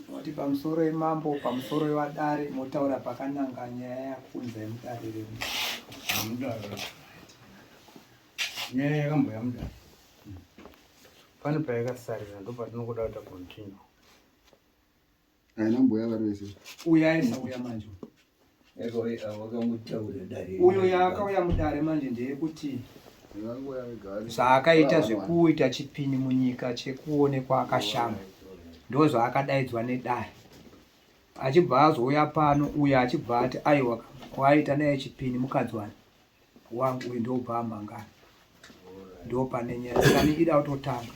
Moti pamusoro yemambo, pamusoro yevadare, motaura pakananga nyaya yakunza yemudare remu. Mudare. Nyaya yakamboya mudare. Pane payakasarira ndo patinokuda kuita continue. Haina mbuya vari vese. Uya aisa uya manje. uyo yaakauya mudare manje ndeyekuti zvaakaita zvekuita chipini munyika chekuonekwa akashama ndozvaakadaidzwa nedare achibva azouya pano uyo achibva ati aiwa kwaaita naye chipini mukadzi wani wangu uyu ndobva amangana ndopane nyaya sani ida kutotanga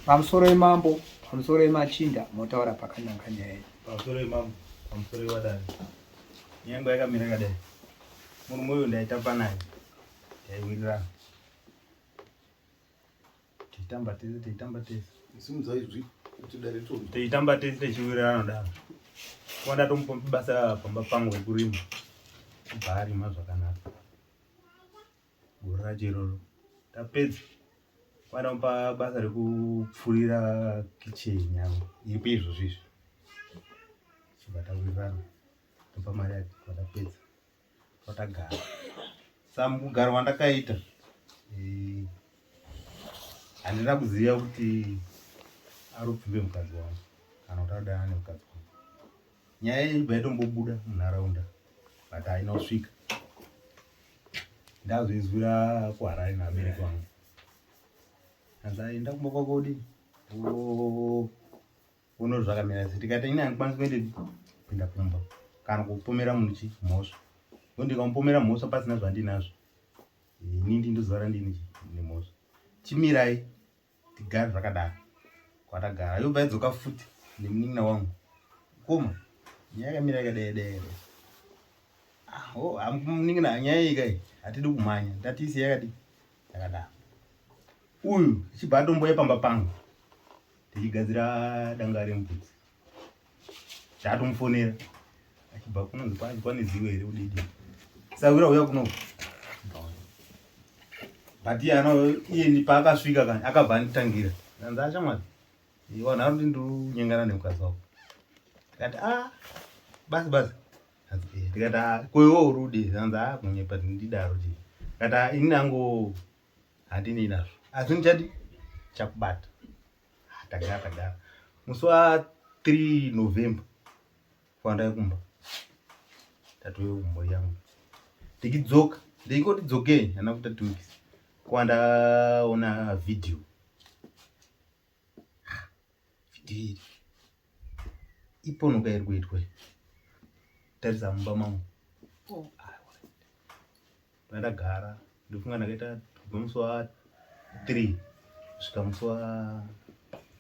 pamusoro yemambo pamusoro yemachinda motaura pakananga nyaya iyi pamusoro yemambo pamusoro yewadani nyange yakamira kadai murume uyu ndaitamba naye taiwirirana Teitamba tese, teitamba tese. Simudza izwi kuti dare tonzwa. Teitamba tese techiwirirana daro. Kwa ndatomupa basa pamba pangu rekurima. Kubva arima zvakanaka. Gore racho iroro. Tapedza. Kwa ndamupa basa rekupfurira kitchen yangu. Iripo izvozvi izvi. Chibva tawirirana. Topa mari yake kwa tapedza. kwatagara sa mugaro wandakaita eh, handina kuziva kuti ari kupfimbe mukadzi wangu kana kuti adana nemukadzi wangu nyaya iyi ibva yatombobuda munharaunda but haina kusvika ndazvinzwira kuharare nevabereki vangu anzi aenda kumba kwako kudini Uno zvakamira sei tikati ini handikwanisi kuende kupinda kumba kana kupomera munhu chi mhosva ko ndikamupomera mhosva pasina zvandinazvo ini ndi ndozara ndini chi nemhosva chimirai tigare zvakadaro kwatagara yobva yadzoka futi nemunin'ina wangu koma nyaya yakamira yakadai dai aho ah, oh, munin'ina nyaya ikai hatidi kumhanya ndatiisi yakadii ndakadaro uyu chibva atomboya pamba pangu tichigadzira danga remubvudzi ndaatomufonera achibva kunonzi kwanzi kwane zivo here udidi sawira uya kuno but iye ano iye paakasvika kani akabva anditangira anzi achamwari iwa nharo ndindirunyengana nemukadzi wako ndikati a ah, basi basi ndikati ah, ko iwe uri ude anzi ah, kunyepa ndidaro ti ndikati ah, ini nangu handinei nazvo asi ndichadi chakubata ah, tagara tagara musi wa 3 november kwandai kumba tatove kumbo yangu ndikidzoka ndikoti dzokei ana kuta two weeks kwandaona video Vhidhiyo iri iponoka iri kuitwa tarisa mumba mangu ndandagara ndofunga ndakaita kubva musi wa 3 kusvika musi wa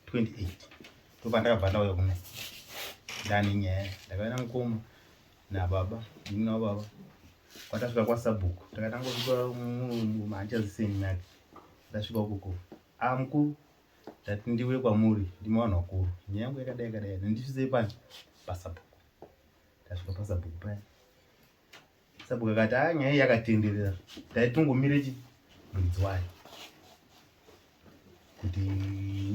28 ndobva ndakabva ndauya kuno ndane nyaya ndakauya namukoma nababa ini nababa kwatasvika kwasabhuku takatanga kuva manje aziseni nake ndasvika ukoko Ah mkuru ndati ndiuye kwamuri ndimi vanhu vakuru nyaya yangu yakadai yakadai ndandisvisei pani pasabhuku ndasvika pasabhuku paya sabhuku akati a ah, nyaya iyi yakatenderera taitongomire chi muridzi wayo kuti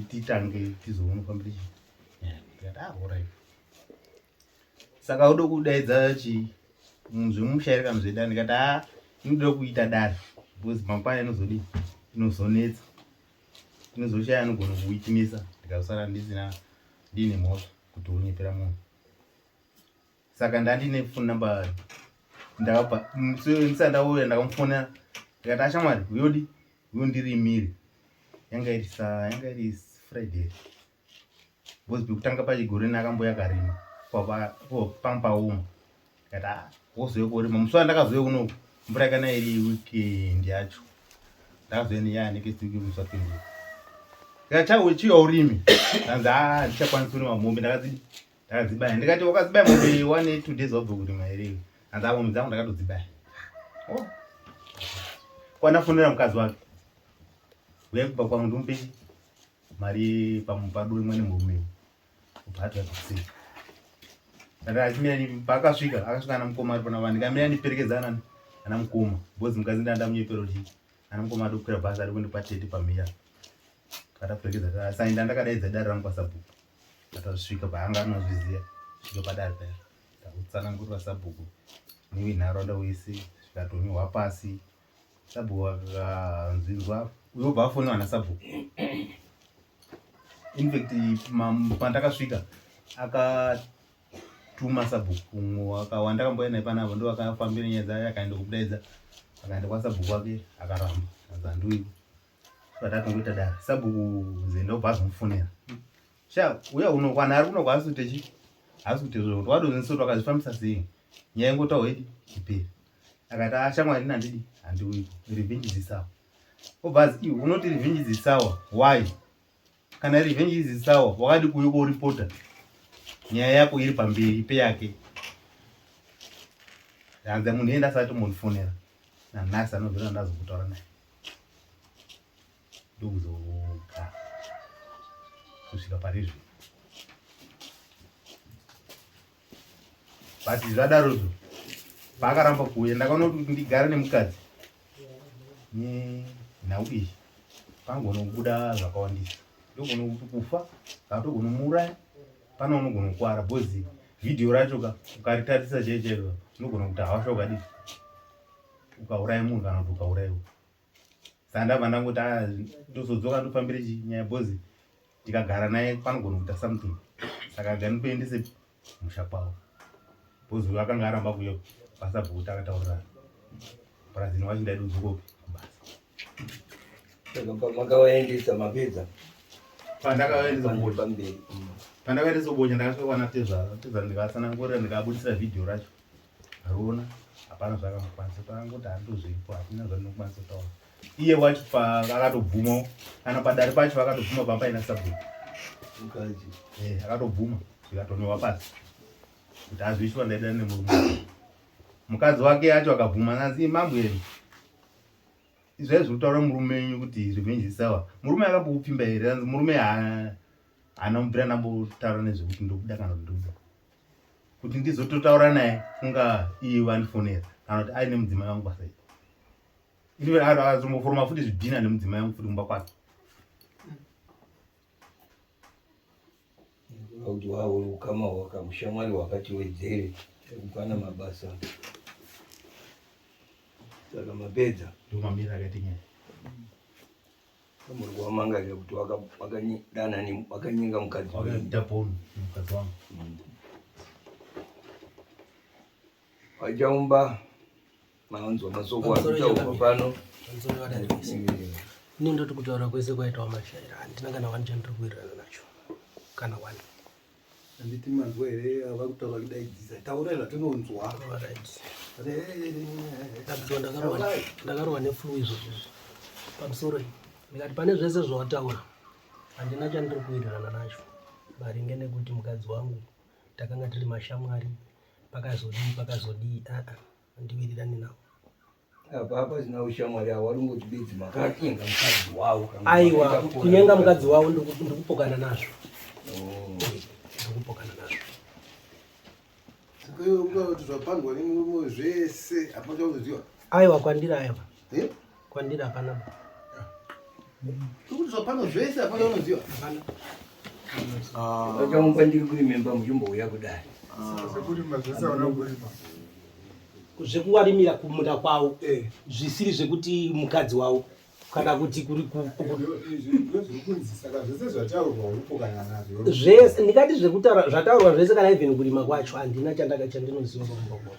titange tizoona fambire chi nyaya tikati ah orit saka udo kudaidza chi zvemumushairi kana zvedare ndikati a inoda kuita dare because mangwana inozodi inozonetsa inozoshaya anogona kuwitimisa ndikazosara ndisina ndiine mhosva kuti unyepera munhu saka ndandine foni namba ndakabva ndisati ndauya ndakamufonera ndikati ashamwari uyodi uyo ndiri imiri yanga iri sa yanga iri friday because pekutanga pachigoreni akamboya karima panga paoma kata ah, wozouya korima musi wandakazouya kuno mvura yakana iri weekend yacho ndakazouya nenyaya next week musi wapindira kachauya chiya urimi anzi a ndichakwanisa kurima mombe ndakadzibaya ndikati wakadzibaya mombe one two days wabva kurima here anzi a mombe dzangu ndakatodzibaya oh. kwanafonera mukadzi wake uya kubva kwangu ndomupe mari pamupadu imwe nemurume ubhatwa zvese ati achimira ni paakasvika akasvika ana mukoma ari pana vani kamira niperekedza anani ana mukoma because mukadzi ndanda munyepero ti ana mukoma adi kukwira bhazi ari kuende kwatete pamira kataperekedza ta sainda ndakadaidza dare rangu kwasabhuku atasvika paanga anozviziva svika padare paya ndakutsanangurira sabhuku niwi nharaunda wese zvikatonyuhwa pasi Sabhuku vakanzwirwa uyobva afona vana sabhuku infact pandakasvika akatuma sabhuku akawanda akambouya naye panavo ndo akafambira nyaya dzaye akaenda kudaidza akaenda kwasabhuku wake akaramba azanduiko vatatongoita dai sabhuku zenda ubva azomufonera sha uya unokwana ari kunokwa asi kuti asi kuti zvokuti wadonziso twakazvifambisa sei nyaya ingotawo idi iperi akati ah, shamwari nandidi handiuyi revenge is sour obva azi unoti revenge is sour why kana revenge is sour wakadi kuuya koripota nyaya yako iri pamberi peyake hanzi munhu enda asati mondifonera nanhasi anozona ndazokutaura naye ndokuzogara kusvika pari zvino but zvadaro zvo paakaramba kuuya ndakaona kuti ndigare nemukadzi nenhau iyi panogona kubuda zvakawandisa ndogona kuti kufa kana togona kumuuraya pane unogona kukwara bcoz vhidhiyo racho ka ukaritarisa chaichairo unogona kuti hawasha ukadii ukauraya munhu kana kuti ukauraiwa sandabva ndangoti ah, ndozodzoka ndofambire nyaya bhozi tikagara naye panogona kuita something saka ganikuendese musha kwavo bhozi uyo akanga aramba kuyo pasabhukuti akataurira parazini wacho ndaidi kudzokopi kubasa makawaendesa mapedza pandakawaendesa kubocha pandakawaendesa kubocha ndakasvika kwana tezvara tezvara ndikatsanangurira ndikabudisira vhidhiyo racho Haruna hapana zvakamukwanisa paangoti handozvipo hatina zvatinokwanisa kutaura iye wacho paakatobvuma kana padare pacho vakatobvuma pamba ina sabhuku eh, akatobvuma zvikatonewa pasi kuti azviiswa ndaida nemurume mukadzi wake yacho akabvuma nanzi mambo yenu izvai zvekutaura murume wenyu kuti revenge isawa murume akambokupfimba here anzi murume haana mubvira nambotaura nezvekuti ndokuda kana kuti ndokuda kuti ndizototaura naye kunga iye vandifonera kana kuti aine mudzimai wangu basa ii ini azomboforoma futi zvidhina nemudzimai wangu futi kumba kwake kuti wavo ukama hwakamushamwari hwakati wedzere ekupana mabasa saka mapedza ndomamira akaita nyaya Muri kuvamangarira kuti vakadanani vakanyenga mukadzi wakaita poni mukadzi wangu. Vachaumba maunzwa masoko achaumba pano. Ini ndoti kutaura kwese kwaitawo mashaira handina kana wani chandiri kuwirirana nacho kana wani. Anditi manzwa here ava kutaura kudaidzisa taurai zvatinonzwa ndakarohwa neflu izvozvo pamusoro ndikati pane zvese zvawataura handina chandiri kuwirirana nacho maringe nekuti mukadzi wangu takanga tiri mashamwari pakazodii pakazodii aa ah, ah, handiwirirani nawo apa apa zina ushamwari awo ari ngoti bedzi makatenga mukadzi wawo aiwa kunyenga mukadzi wawo ndikupokana nazvo oh. ndikupokana nazvo zvese aiwa kwandira aiwa kwandira hapana Pano zvese hapana unoziva. Ah. Vakaumba ndiri kurimemba muchimbouya kudai. Ah. Zvekurima zvese hauna kurima. Zvekuwarimira kumunda kwavo eh. zvisiri zvekuti mukadzi wavo kana kuti kuri zvese ndikati zvekutaura zvataurwa zvese kana even kurima kwacho handina chandaka chandinoziva pamubakona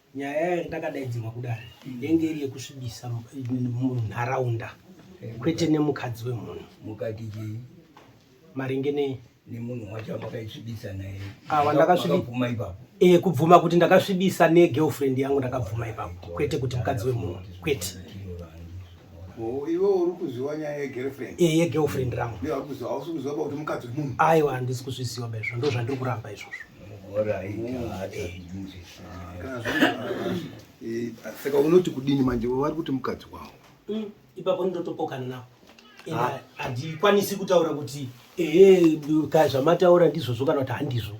nyaya yayo ndakadaidzirwa kudare yenge iri yekusvibisa munharaunda kwete nemukadzi wemunhu mukati chii maringe nei nemunhu wacho amakaisvibisa naye awa ndakasvibuma ipapo e kubvuma kuti ndakasvibisa negirlfriend yangu ndakabvuma ipapo kwete kuti mukadzi wemunhu kwete iwe uri kuziva nyaya yegirlfriend e yegirlfriend rangu aiwa handisi kuzviziva baizvo ndo zvandiri kuramba izvozvo saka unoti kudini manje vari kuti mukadzi wavo mm, ipapo ndotopokana navo ah. handikwanisi kutaura kuti ehe ka zvamataura ndizvozvo kana kuti handizvo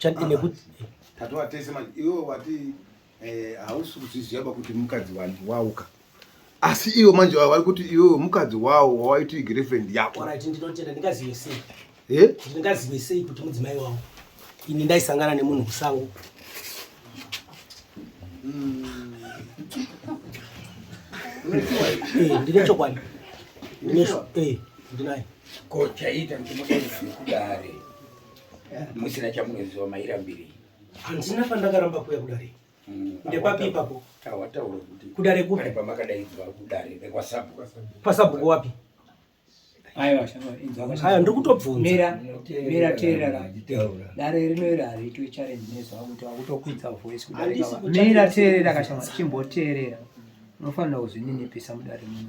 ah, nekuti tatova tese manje iwe wati eh hausi kuzviziva ba kuti mukadzi wani wauka asi iwo manje vari kuti iwe mukadzi wawo wawaiti girlfriend yako right ndinotenda ndingazive sei eh ndingazive sei kuti mudzimai wangu ini ndaisangana nemunhu kusango mm. eh ndine chokwadi ndine eh ndinaye kochaita kuti mudai kudare musina chamunoziva mairambirei Handina pandakaramba kuya kudare. Mm. Ndepapi ipapo? Tawataura kuti kudare kupi? Pamakadaidzwa kudare rekwasabu. Kwasabu wapi? Aiwa, aiwa, ndiri kutobvunza. Mira, mira teerera. Dare rino iri hariitwe challenge nezwa kuti wakutokwidza voice kudarika. Mira teerera kashama chimboteerera. Unofanira kuzvininipisa mudare muno.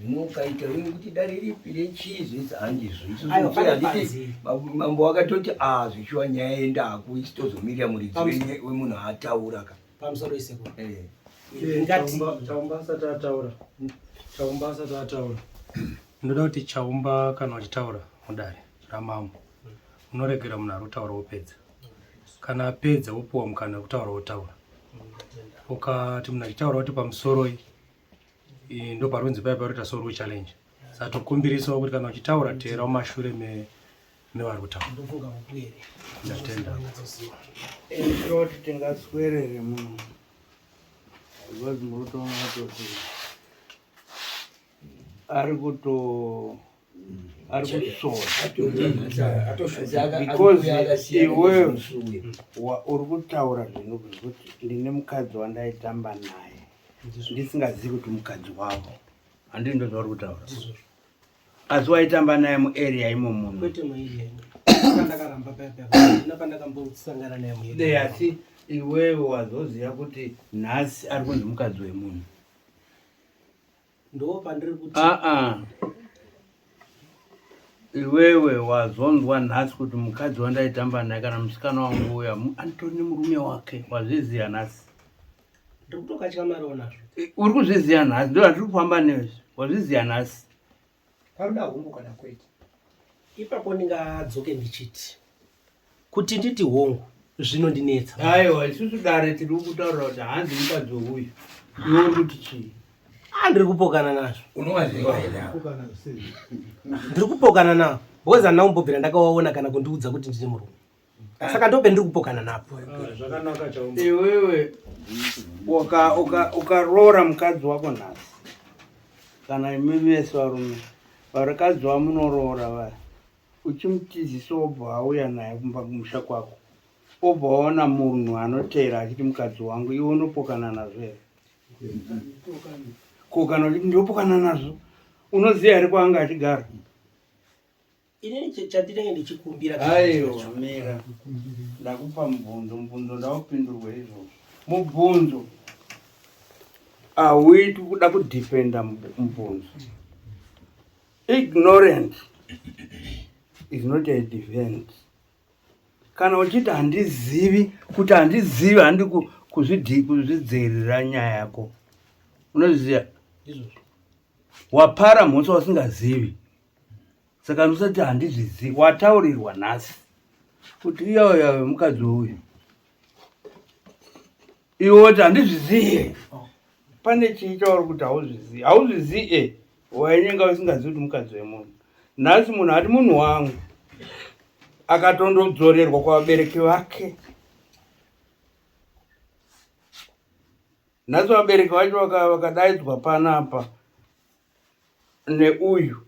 Zvino ukaita wewe kuti dare ripi rechizi it's handizvo. Isu Ayo, zvichira pane handiti panzi. babu- mambo wakatoti ah zvichiwa nyaya yendako isu tozomirira muridzi Pamus- wenye- wemunhu ataura ka. pamusoro isekuru Eh. ingati Chaumba- chaumba asati ataura chaumba asati ataura ndoda kuti chaumba kana uchitaura mudare ramambo unoregera munhu ari kutaura wopedza kana apedza wopuwa mukana wekutaura wotaura ukati munhu achitaura kuti pamusoroi ndoparunzi paya paroita so rue challenge saka tokumbirisawo kuti kana uchitaura teera umashure mevari kutaura ndatenda toti tingaswerere munhu because murutoona kuti ari kuto ari kusvoobeause iwe uri kutaura zvinhu zvekuti ndine mukadzi wandaitamba naye ndisingazivi kuti mukadzi wavo handii ndo zvauri kutaura asi waitamba naye muarea imo munhu asi iwewe wazoziva kuti nhasi ari kunzi mukadzi wemunhu aa iwewe wazonzwa nhasi kuti mukadzi wandaitamba naye kana musikana wangu uya anditori nemurume wake wazviziva nhasi uri kuzviziva nhasi ndo atiri kufamba nezvi wazviziva nhasi paruda hungu kana kwete ipapo ndingadzoke ndichiti kuti nditi hongu zvinondinetsa aiwa isusu dare tiri kutaura kuti hanzi mukadzi weuyu iwo ndikuti chii andiri ah, kupokana nazvo ndiri kupokana navo because handina kumbobvira ndakawaona kana kundiudza kuti ndine murume ah. saka ndope ndiri kupokana napo ah, iwewe ukaroora mukadzi wako nhasi kana imi vese varume varikadzi vamunoroora vaya uchimutizisa wobva auya naye kumba kumusha kwako obva waona munhu anoteera achiti mukadzi wangu iwe unopokana nazvo here ko kana uchiti ndopokana nazvo unoziva here kwaanga achigara aiomira ndakupa mubvunzo mubvunzo ndaupindurwe izvozvo mubvunzo auiti kuda kudefenda mubvunzo Ignorance is not a defense. Kana uchiti handizivi kuti handizivi handi kuzvidii kuzvidzivirira nyaya yako unoziva wapara mhosva usingazivi saka ndisati handizvizivi wataurirwa nhasi kuti iyoyo mukadzi uyu Iwe woti handizvizive. Oh. Pane chii chauri kuti hauzvizive. Hauzvizive eh, wainyenga usingazivi kuti mukadzi wemunhu. Nhasi munhu ati munhu wangu akatondodzorerwa kwavabereki vake. Nhasi vabereki vacho vakadaidzwa panapa. neuyu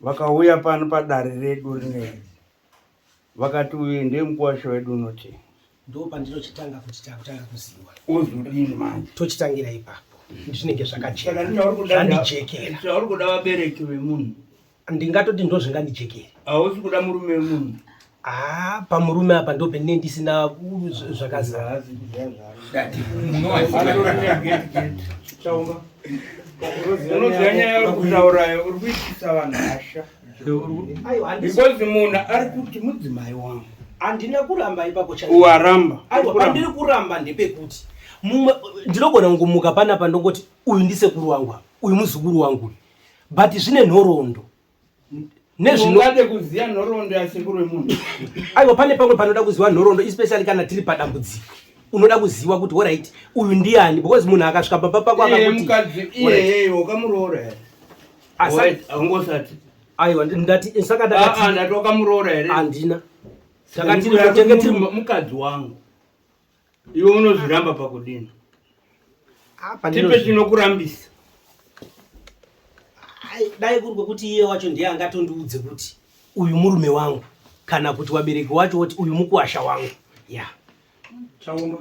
vakauya pano padare redu rineri vakati uyu ndiye mukuwasha wedu unoti ndopandinochitanga kuti takutanga kuziwa uzodini manje tochitangira ipapo zvinenge zvakachekandijekera chauri kuda vabereki vemunhu ndingatoti ndozvingandijekeri hausi kuda murume wemunhu Ah, pamurume apa ndopene ndisina zvakazara unoziva nyaya uri kutaurayo uri kuitisa vanhu hasha because munhu ari kuti mudzimai wangu handina kuramba ipapo chawaramba pandiri kuramba ndepekuti mumwe ndinogona kungumuka panapa ndongoti uyu ndisekuru wangu uyu muzukuru wangu uyu but zvine nhoroondo nezvinoade kuziva nhoroondo yasekuru wemunhu aiwa pane pamwe panoda kuziva nhoroondo especially kana tiri padambudziko unoda kuziva kuti orit uyu ndiani because munhu akasvika pamba pako akakuti aiwa ndati saka ndakati wakamuroora here andina takati mukadzi wangu Iwe unozviramba pakudini? Apa Tipe ndinozvi- chinokurambisa. Ai, dai kuri kwekuti iye wacho ndiye angatondiudze kuti uyu murume wangu kana kuti wabereki wacho woti uyu mukuwasha wangu ya Chaumba.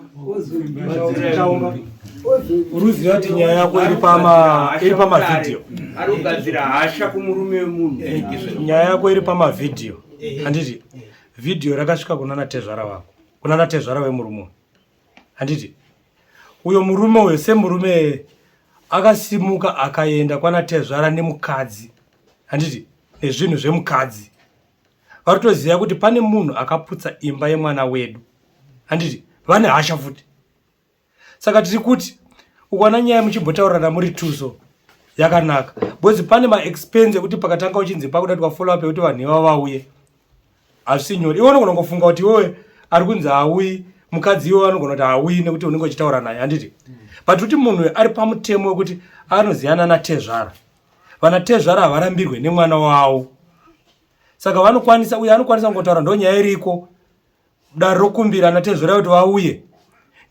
Chaumba. Uruziva kuti nyaya yako iri pama iri pama video. Ari kugadzira hasha kumurume wemunhu. Nyaya yako iri pama video. Handiti video rakasvika kunana tezvara wako. kuna natezvara wemurume uyu handiti uyo murume uyo semurume akasimuka akaenda kwana tezvara nemukadzi handiti nezvinhu zvemukadzi vari kutoziva kuti pane munhu akaputsa imba yemwana wedu handiti vane hasha futi saka tiri kuti ukwana nyaya muchimbotaurirana muri two so yakanaka because pane maexpense ekuti pakatanga uchinzi pakuda kuti wafollow up yekuti vanhu ivavo vauye hazvisi nyore iwe unogona kungofunga kuti iwewe ari kunzi hauyi mukadzi iwe anogona kuti hauyi nekuti unenge uchitaura naye handiti but kuti munhu ari pamutemo wekuti anoziyana natezvara vanatezvara havarambirwe nemwana wavo saka vanokwanisa uye anokwanisa kungotaura ndonyaya iriko dare rokumbira ana tezvera kuti vauye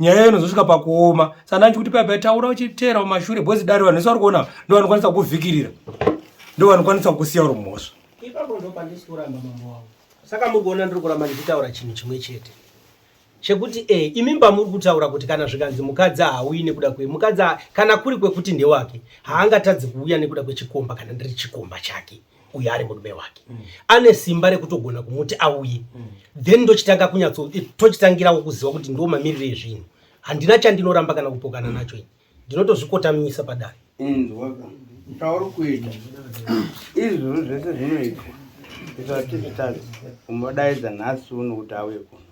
nyaya iyo inozosvika pakuoma saka ndanditi kuti paipai taura uchiteera mumashure bhozi dare vanhu vese vari kuona ndo vanokwanisa kukuvhikirira ndo vanokwanisa kukusiya uri mhosva ipapo ndo pandisi kuramba mambo wavo saka muri kuona ndiri kuramba ndichitaura chinhu chimwe chete chekuti e eh, imimba muri kutaura kuti kana zvikanzi mukadzi haauyi nekuda kwe mukadzi kana kuri kwekuti ndewake haangatadzi kuuya nekuda kwechikomba kana ndiri chikomba chake uye ari murume wake mm. ane simba rekutogona kumuti auye mm. then ndochitanga kunyatso eh, tochitangirawo kuziva kuti ndo mamiriro ezvinhu handina chandinoramba kana kupokana mm. nacho ini ndinotozvikotamisa padare tauri kuita izvozvo zvese zvinoitwa isati zvitadzi umodaidza nhasi uno kuti auye kuno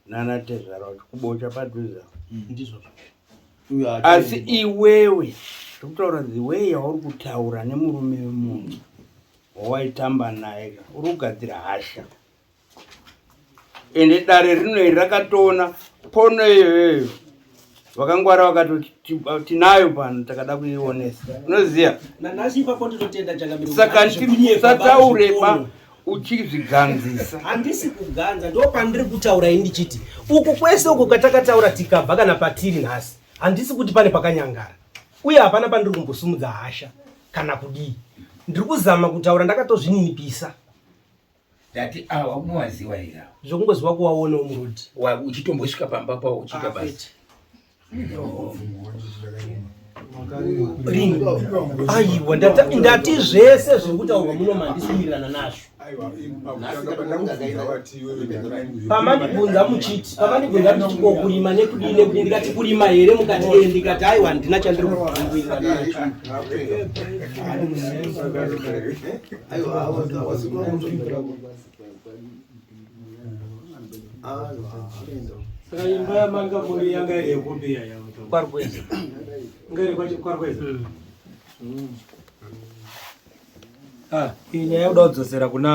nana tezvara wacho kubocha padhuze apo Mm, ndizvozvo uyo asi haatoendi. iwewe ndikutaura the way yauri kutaura nemurume wemunhu wawaitamba naye ka, uri kugadzira hasha ende dare rino iri rakatoona pono iyoyo vakangwara vakati tinayo pano takada kuionesa unoziva saka tisataureba uchizviganzisa handisi kuganza ndo pandiri kutaura indichiti uku kwese uku katakataura tikabva kana patiri nhasi handisi kuti pane pakanyangara uye hapana pandiri kumbosumudza hasha kana kudii ndiri kuzama kutaura ndakatozvininipisa Ndati awa unowaziwa here awa? Zvokungoziwa kuwaona umuroad. Wa uchitombosvika pamba pawo uchiita basa. Aiwa ndati ndati zvese zviri kutaurwa muno mandisumirirana nazvo. Pamandibvunza muchiti pamandibvunza kuti ko kurima nekudii nekudii ndikati kurima here mukati ee ndikati aiwa handina chandiri kubvunzira nacho. saka imba yamanga muri yanga iri yekupi yaya kwarweza nga iri kwacho kwarweza mm. mm. ah, iyi nyaya yoda kudzosera kuna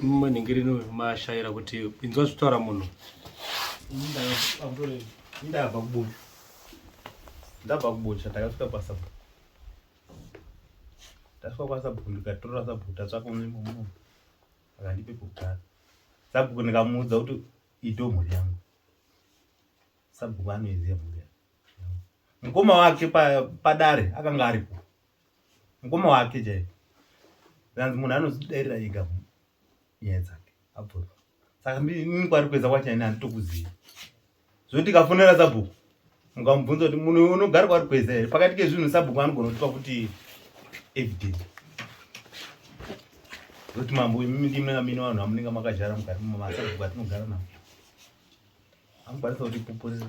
mumwe nhingirini uyu mashaira kuti inzwa zvitaura munhu ndabva kubusha ndabva kubusha ndakasvika pasapo tasvika kwasabhuku ndikatorera sabhuku tatsvaka unzvimbo muno akandipe pekugara sabhuku ndikamuudza kuti ito mhuri yangu sabhuku anoiziva mhuri yangu mukoma wake padare pa akanga aripo mukoma wake chaipo anzi munhu anozvidairira ega nyaya dzake abvura saka ndini kwari kuedza kwachaine handitokuzivi zvoti ndikafonera sabhuku mukamubvunza kuti munhu unogara kwaari kweza here pakati kezvinhu sabhuku anogona kutipa kuti evidence kuti mambo imimi ndimi amini vanhu vamunenge makajara mukati mumasabhuku atinogara navo anokwanisa kuti pupurira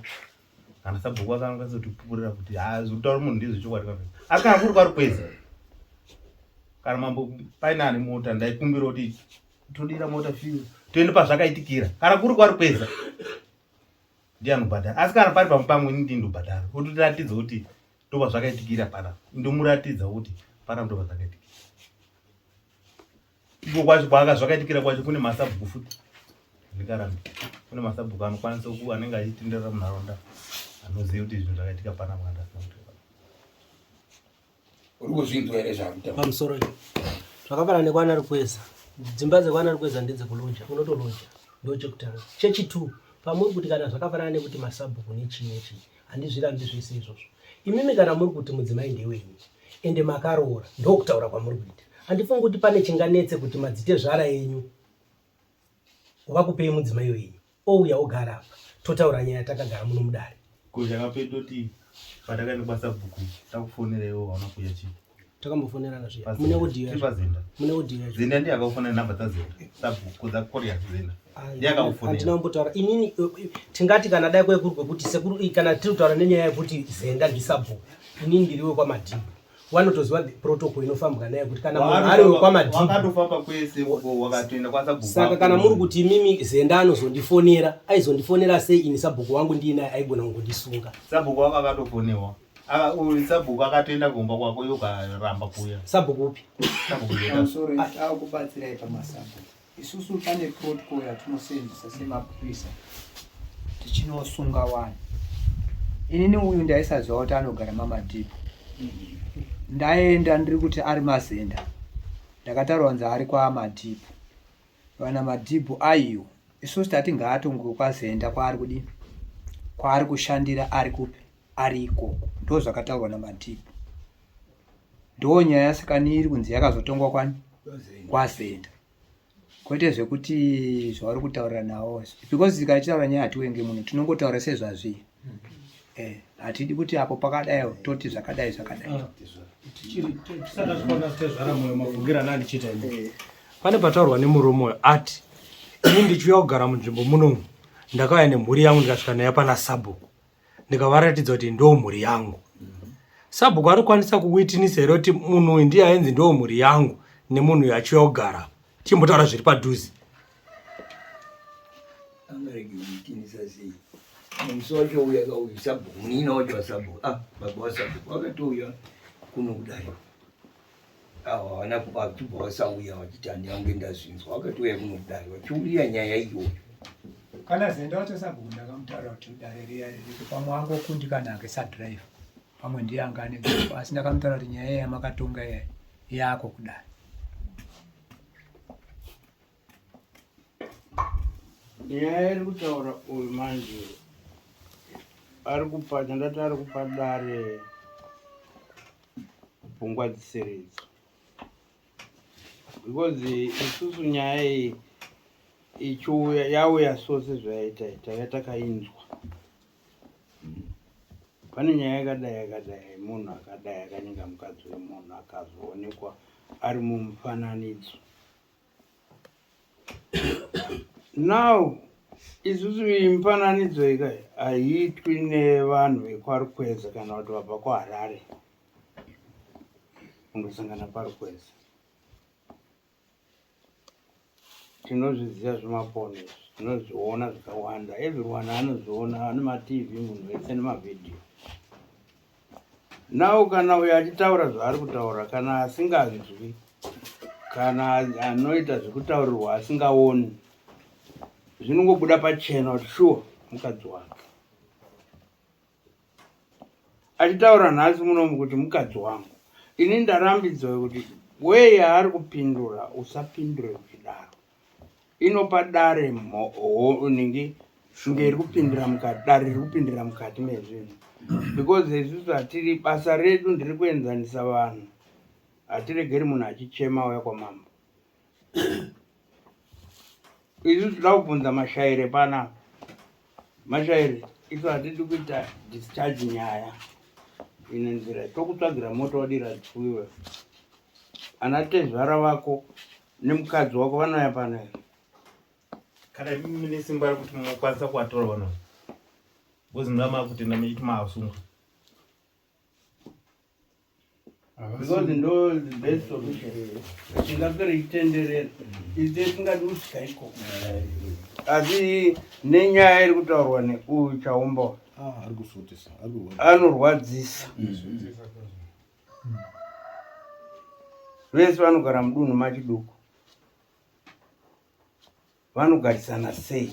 kana sabhuku aka anokwanisa kuti pupurira kuti ha zvokutaura munhu ndizvo chokwadi ka asi kana kuri kwari kwezi kana mambo paine ane mota ndaikumbira kuti todira mota fiu toende pazvakaitikira kana kuri kwari kweza ndi anobhadhara asi kana pari pamupango ini ndi ndobhadhara ototiratidza kuti ndopa zvakaitikira pana ndomuratidza kuti pana ndopa zvakaitikira iko kwacho kwaaka zvakaitikira kwacho kune masabhuku futi ndikarambi kune masabhuku anokwanisa ku anenge achitenderera munharaunda anoziva kuti zvinhu zvakaitika pana mwana uri kuzvinzwa here zvakuta pamusoro izvo zvakafanana nekwana rukweza dzimba dzekwana rukweza ndedzekulonja unotolonja ndochekutanga chechitwo pamuri kuti kana zvakafanana nekuti masabhuku nechii nechii handizvirambi zvese izvozvo imimi kana muri kuti mudzimai ndewenyu ende makaroora ndokutaura kwamuri kuita handifungi kuti pane chinganetse kuti madzite zvara yenyu wakupei mudzimai wenyu ouya ogara apa totaura nyaya takagara muno mudare kuzha kapei toti patakaenda kwasabhuku takufonera iwo hauna kuuya chii takambofonerana zviya mune audio yacho pazinda mune audio yacho zinda ndiye akakufonera number dzazinda sabhuku dza korea zinda ndiye akakufonera handina kumbotaura inini eh, eh, tingati kana dai kwekuri kwekuti sekuru eh, kana tiri kutaura nenyaya yekuti zenda ndisabhuku inini ndiriwe kwamadhibhu wanotoziva protocol inofambwa nayo kuti kana munhu ari wekwamadhibwakatofamba kwese uko wakatoenda kwasabhukusaka kana muri kuti imimi zenda anozondifonera aizondifonera sei ini sabhuku wangu ndiinaye aigona kungondisunga sabhuku wako akatofonewa sabhuku akatoenda kumba kwako yokaramba kuya sabhuku upi sabhuku akubatsirai pamasabhuku Isusu pane protocol yatinosenzesa semapurisa tichinosunga wani. Inini uyu ndaisaziva kuti anogara mamadhipo. Ndaenda ndiri kuti ari mazenda. Ndakataura kunzi ari kwamadhipo. Vana madhipo aiyo. Isusu tati ngaatonge kwazenda kwaari kudini? Kwaari kushandira ari kupi? ari ikoko ndozvakataurwa namadhipi ndo nyaya yasikani iri kunzi yakazotongwa kwani kwasenta kwete zvekuti zvavari kutaurira nawo because tikachitaura nyaya hatiwenge muno tinongotaura sezvazvii eh, hatidi kuti apo pakadai toti zvakadai zvakadai ah, eh. pane pataurwa nemurume uyo ati ini ndichiuya kugara munzvimbo munomu ndakauya nemhuri yangu ndikasvika nayo pana sabhuku ndikavaratidza kuti ndo mhuri yangu sabhuku anokwanisa kuwitinisa here kuti munhu uyu ndiye ainzi ndo mhuri yangu nemunhu uyu achiuya kugara chimbotaura zviri padhuze musi wacho uya kauyu sabhuku munina wacho wasabhuku ah baba wasabhuku wakatouya kuno kudai avo havana kubva vasauya vachiti handiange ndazvinzwa vakatouya kunodai vachiuya nyaya iyoyo kana zenda wacho sabhuku ndakamutaura kuti dare riya ririko pamwe angokundi kana ake sadrive pamwe ndiye anga ane gupo asi ndakamutaura kuti nyaya yamakatonga yako kudai nyaya iri kutaura uyu manje ari kupa chandati ari kupa dare pfungwa dzisiridzo because isusu nyaya iyi ichiuya yauya so sezvayaita taiva takainzwa pane nyaya yakadai yakadai munhu akadai akanyenga mukadzi wemunhu akazoonekwa ari mumufananidzo now isusu mifananidzo ika haiitwi nevanhu vekwarukweza kana kuti vabva kuharare kundosangana kwarukweza tinozviziva zvemapono izvi tinozviona zvikawanda everyone anozviona anematv munhu wese nemavhidhiyo Now kana uyo achitaura zvaari kutaura kana asinganzwi kana anoita zvekutaurirwa asingaoni zvinongobuda pachena kuti shuwa mukadzi wake achitaura nhasi munomu kuti mukadzi wangu ini ndarambidzwa kuti weye ari kupindura usapindure uchidaro inopa dare nhingi shunge iri kupindira mukati dare riri kupindira mukati mezvinhu because isusu hatiri basa redu ndiri kuenzanisa vanhu hatiregeri munhu achichema auya kwamambo isu tinoda kubvunza mashaire pana mashaire isu hatidi kuita discharge nyaya ine nzira tokutsvagira moto wadira dzifuiwe ana tezvara vako nemukadzi wako vanouya pano here kana imi mune simba rekuti munokwanisa kuvatora vanhu ava because muna makutenda mechiti maasungwa because ndo the best solution tingapere itenderera ize tingadi kutya iko asi nenyaya iri kutaurwa neuyu chaumbawa ah, anorwadzisa mm-hmm. vese vanogara mudunhu machiduku vanogarisana sei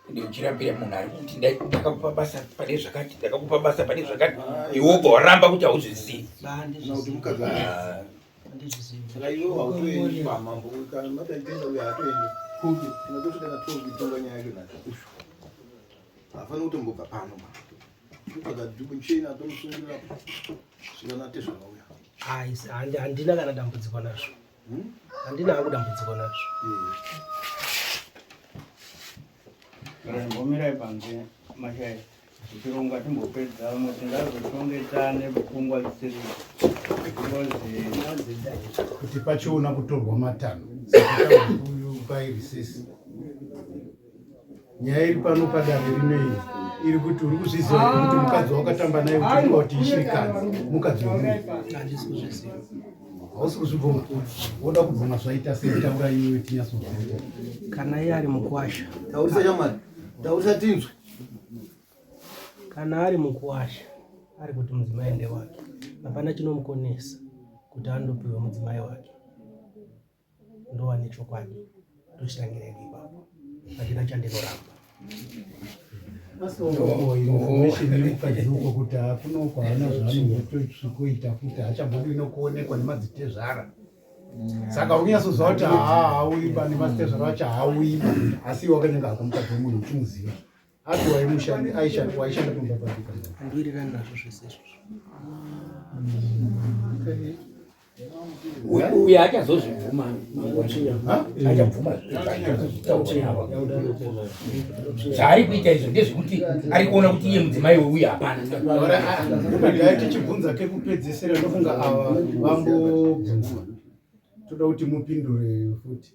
ndiuchirambira munhu ari kuti ndakakupa basa pane zvakati ndakakupa basa pane zvakati iwe ubva waramba kuti hauzvizivi hafana kutombobva pano kutsvaga duku chena tomusungirira zvikanate zvakauya aisi handina kana dambudziko nazvo hmm? handina hangu dambudziko nazvo mbomirai panze mashaya tichironga timbopedza mwe tingazotongetsane pfungwa dzisiri kuti pachiona kutorwa matanho uyu bairisisi nyaya iri pano padare rinei iri kuti uri kuzviziva here kuti mukadzi wakatamba naye uchifunga kuti ishirikadzi mukadzi wemunhu hausi kuzvibvuma woda kubvuma zvaita sei taura iwe tinyasozvia kana iye ari mukwasha taurisa chamwari taurisa tinzwe kana ari mukwasha ari kuti mudzimai ndewake hapana chinomukonesa kuti andopiwe mudzimai wake ndova nechokwadi tochitangira ini ipapo handina chandinoramba asoinformationyekukadeuko kuti hakuna uko haana zvaanotoisvikoita kuti hachambodi inokuonekwa nemadzitezvara saka unyasoziva kuti haa hauiba nemadzitezvara vacho hauiba asi iwe wakanyenga hako mukadzi wemunhu uchimuziva Hapi waimushandi aishanda waishanda kumba papi? Andowirirana nazvo zvese izvozvo. Uyu- Uyu achazozvibvuma achabvuma zvaari kuita izvo ndezvekuti ari kuona kuti iye mudzimai weuyu hapana Dai tichibvunza kekupedzesera ndofunga ava vambobvunzwa. Toda kuti mupindure futi.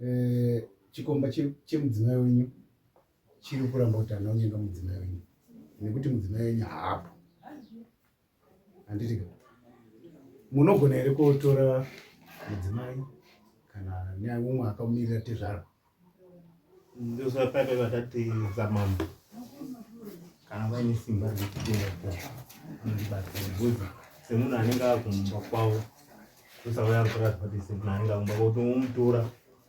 Eh, chikomba chemudzimai wenyu chiri kuramba kuti hana unyenga mudzimai wenyu nekuti mudzimai wenyu haapo handitika munogona here kuotora mudzimai kana nyaya umwe akamirira tezvara ndozvapaka vakati zamambo kana vaine simba rekutenga anotibatsira bhuzi semunhu anenge akumba kwavo kusauya kuratidza kuti semunhu anenge akumba kuti umutora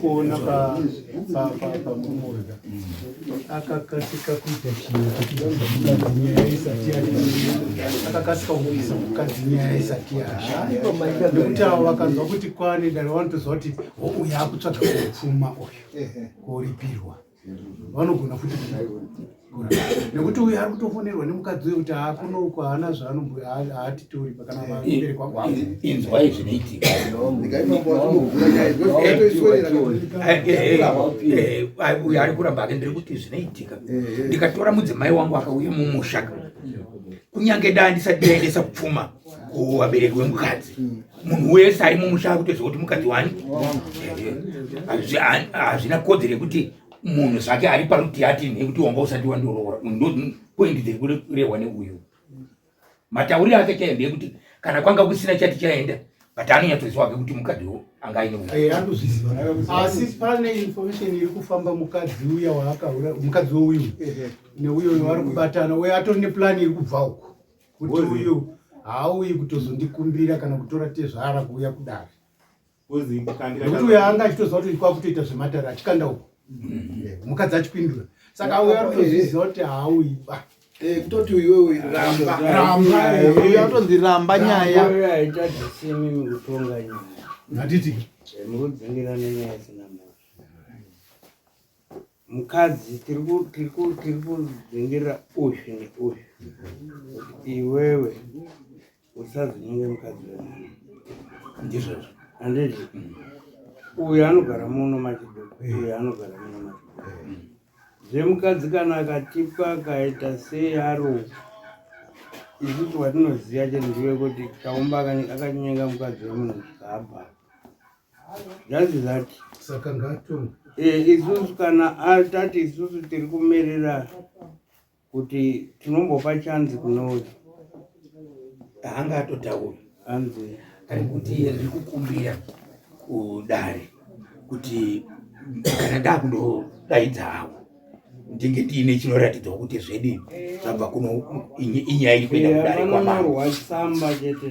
kuona pamumoda akakasika kuita chinhu chekudainyaya isati akakasika kuisa mukadzi nyaya isati yaaikuti avo vakanzwa kuti kwane dare vanotoziva kuti uyu akutsvaga kupfuma uyu koripirwa vanogona futi nekuti uyu ari kutofonerwa nemukadzi uyo kuti haakunoko haana zvaanoatitori pakanaabereki wanguinzwai zvinoitika uyo ari kuramba ake ndiri kuti zvinoitika ndikatora mudzimai wangu akauya mumusha kunyange daa ndisati ndaendesa pfuma kuvabereki wemukadzi mm. munhu wese ari mumusha akutoziva kuti mukadzi wani hazvina kodzero yekuti munhu zvake ari paruti ati nekuti wanga usati wandoroora ndopoindi dziri kurehwa neuyu matauriro ake chaiyo ndeyekuti kana kwanga kusina chati chaenda but anonyatsoziva ke kuti mukadzi wo anga aine eh, asi pane information iri kufamba mukadzi uya waakaura mukadzi wouyu neuyo waari kubatana uye atori neplan iri kubva uko kuti uyu haauyi kutozondikumbira kana kutora tezvara kuuya kudare nekuti uyo anga achitoziva kuti kwakutoita zvematare achikanda uko mukadzi achipindura saka auya kutozviziva kuti haauyi ba eh, kutoti uyowe rambaauyatonzi ramba nyaya hatiti eh, mukadzi tiri kudzingira uzvi neuzvi kuti iwewe usazonyenge mukadzi wemunhu ndizvozvo andizvo uyu anogara muno machido uyu anogara muno machido zvemukadzi kana akatipa akaita sei aro isusu watinoziva chete ndiwe kuti chaumba akanyenga mukadzi wemunhu zvikabva That is that. Saka ngatonga. Eh, isusu kana atati isusu tiri kumerera kuti tinombopa chanzi kunouya. Anga atotaura. Anzi. Ari kuti riri kukumbira kudare kuti kana dakundo daidza hawo. tinge tiine chinoratidzawo kuti zvedi zvabva kuno inyaya iri kuenda kudare kwamarwa samba chete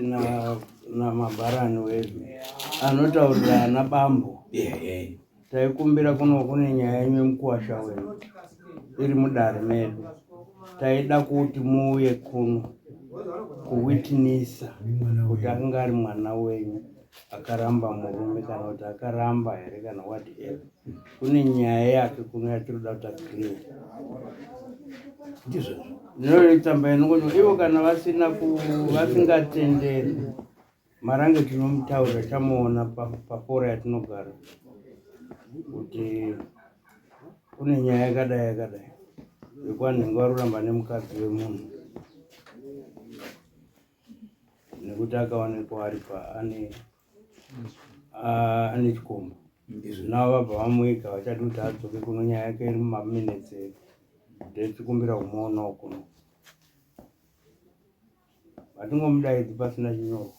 namabharani wedu anotaurira ana bambo taikumbira kuno kune nyaya yenyu yemukuwasha wedu iri mudare medu taida kuti muuye kuno kuwitnisa kuti akanga ari mwana wenyu akaramba murume kana kuti akaramba here kana whatever kune nyaya yake kuno yatinoda kuta clear ndizvozvo ndinoitamba inongono ivo kana vasina vasingatenderi marange tinomutaurira chamuona pafora yatinogara kuti kune nyaya yakadai yakadai yekuvanhu venge varuramba nemukadzi wemunhu nekuti akaonekwa ari paane ane chikomba izvi navo vabva vamuika vachati kuti adzoke kuno nyaya yake iri mumaminutes edu ndechikumbira kumoonawo kuno vatingomudaidzi pasina chinyorwa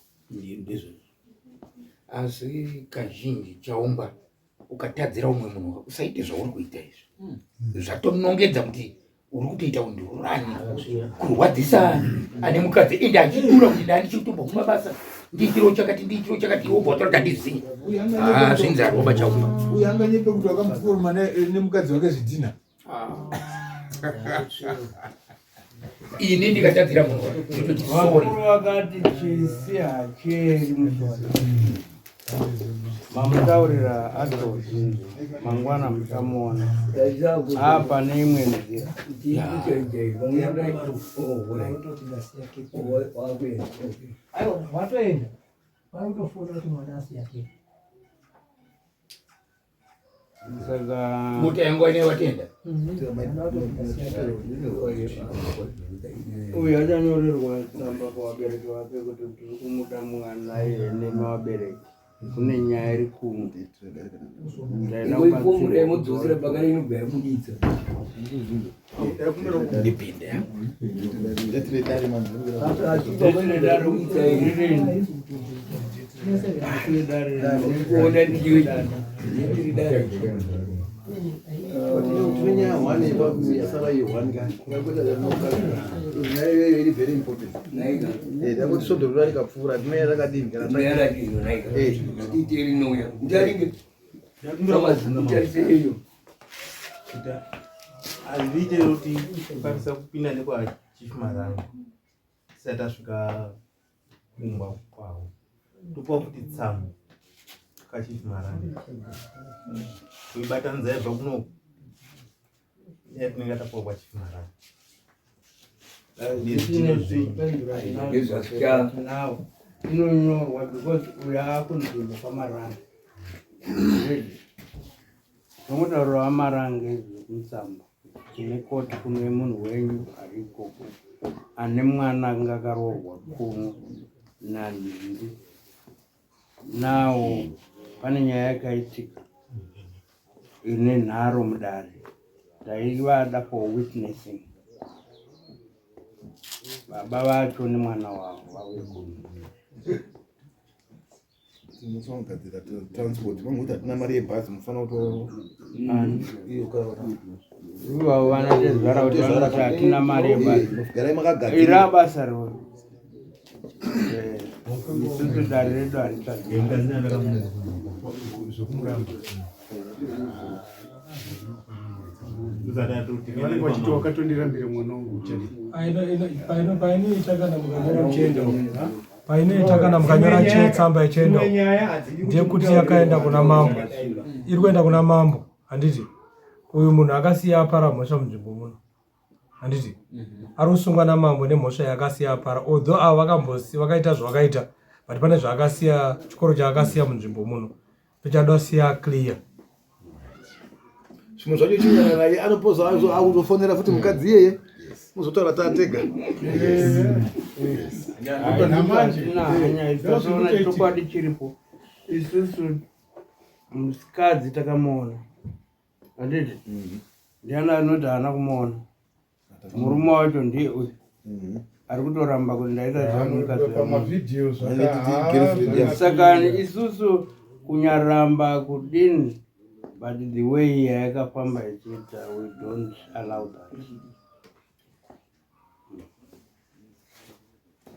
ndizvo asi kazhinji chaumba ukatadzira umwe munhu usaite zvauri kuita izvi hmm. zvatonongedza kuti uri kutoita undurani kurwadzisa ane mukadzi ende achidura kuti nda ndichikutomba kuma basa ndiitiro chakati ndiitiro chakati iwo bhotora tandiziva ah, zvinzi aroba chauma uyu anganyepe kuti wakamufuruma nemukadzi wake zvidhina ini ndikatadzira munhu wakati chisi hacheri mamutaurira atozi mangwana muchamuona apa neimwe nzira watoenda vaitofona kuti mwana asiyake mutengo ine vatenda uyu achanyorerwa tsamba kuvabereki vake kuti tiri kumuda mwana yene mavabereki kune nyaya iri kunge ndaenda kubatsira ndipinde takutisodorora rikapfuura timeya rakadini kana kuti hazviite kuti kukwanisa kupinda nekwachief marango sati tasvika kumba kwavo topa kuti tsamu kachief marango kuibatanidza yabva kuno yatinenge tapuwa kwachief marango inonyorwa because uyo akunzvimbo kwamaranga zvomudauro wamaranga izvo kumusamba tine koti kuno yemunhu wenyu ari ikoko ane mwana anga akaroorwa kuno nandindi Now pane nyaya yakaitika ine nharo mudare taivada for witnessing baba vacho nemwana wavo vauye kuno tinogadzira transport vamwe kuti hatina mari yebhazi mufana kutoivavo vanatezvara kuti vanotahatina mari yebhazi ira basa roo isusu dare redu haritaziwakatondirambire mwana wangu painoita kana mukanyora chendo painoita kana mukanyora chetsamba yechendo ndeyekuti yakaenda kuna mambo iri kuenda kuna mambo handiti uyu munhu akasiya apara mhosva munzvimbo muno handiti mhm. ari kusungwa namambo nemhosva yaakasiya apara although avo vakambosi vakaita zvavakaita but pane zvaakasiya chikoro chaakasiya munzvimbo muno tochada siya clear zvimwe zvacho chinyana naye anopoza akuzofonera futi mukadzi iyeye muzotaura tatega chokwadi chiripo isusu musikadzi takamuona anditi mhm. ndiani anoti haana kumuona murume wacho ndiye uyu mhm. ari kutoramba kuti ndaita zvamukazimusakani isusu kunyaramba kudini but the way yayakafamba ichiita we don't allow that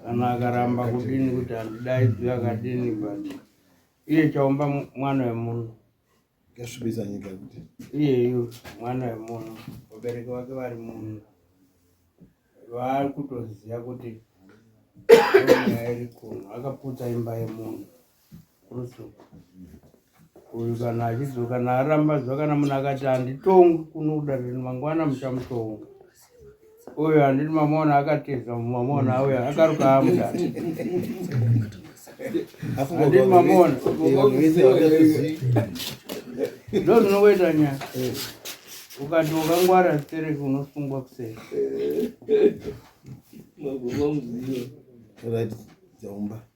kana akaramba kudini kuti handidaidzwi akadini but iye chaumba mwana wemunhu Gasvibisa nyika kuti iyeyu mwana wemunhu vabereki vake vari munhu vaari kutoziva kuti nyaya iri kuno akaputsa imba yemunhu kurusuku uyu kana achidzoka naaramba zuva kana munhu akati handitongwi kunoda zvinhu mangwana muchamutonga uyo handiti mamona akatiza mamona uyo akaruka amuda handiti mamona ndo ndinokuita nya ukati ukangwara stereki unosungwa kuseri right dzaumba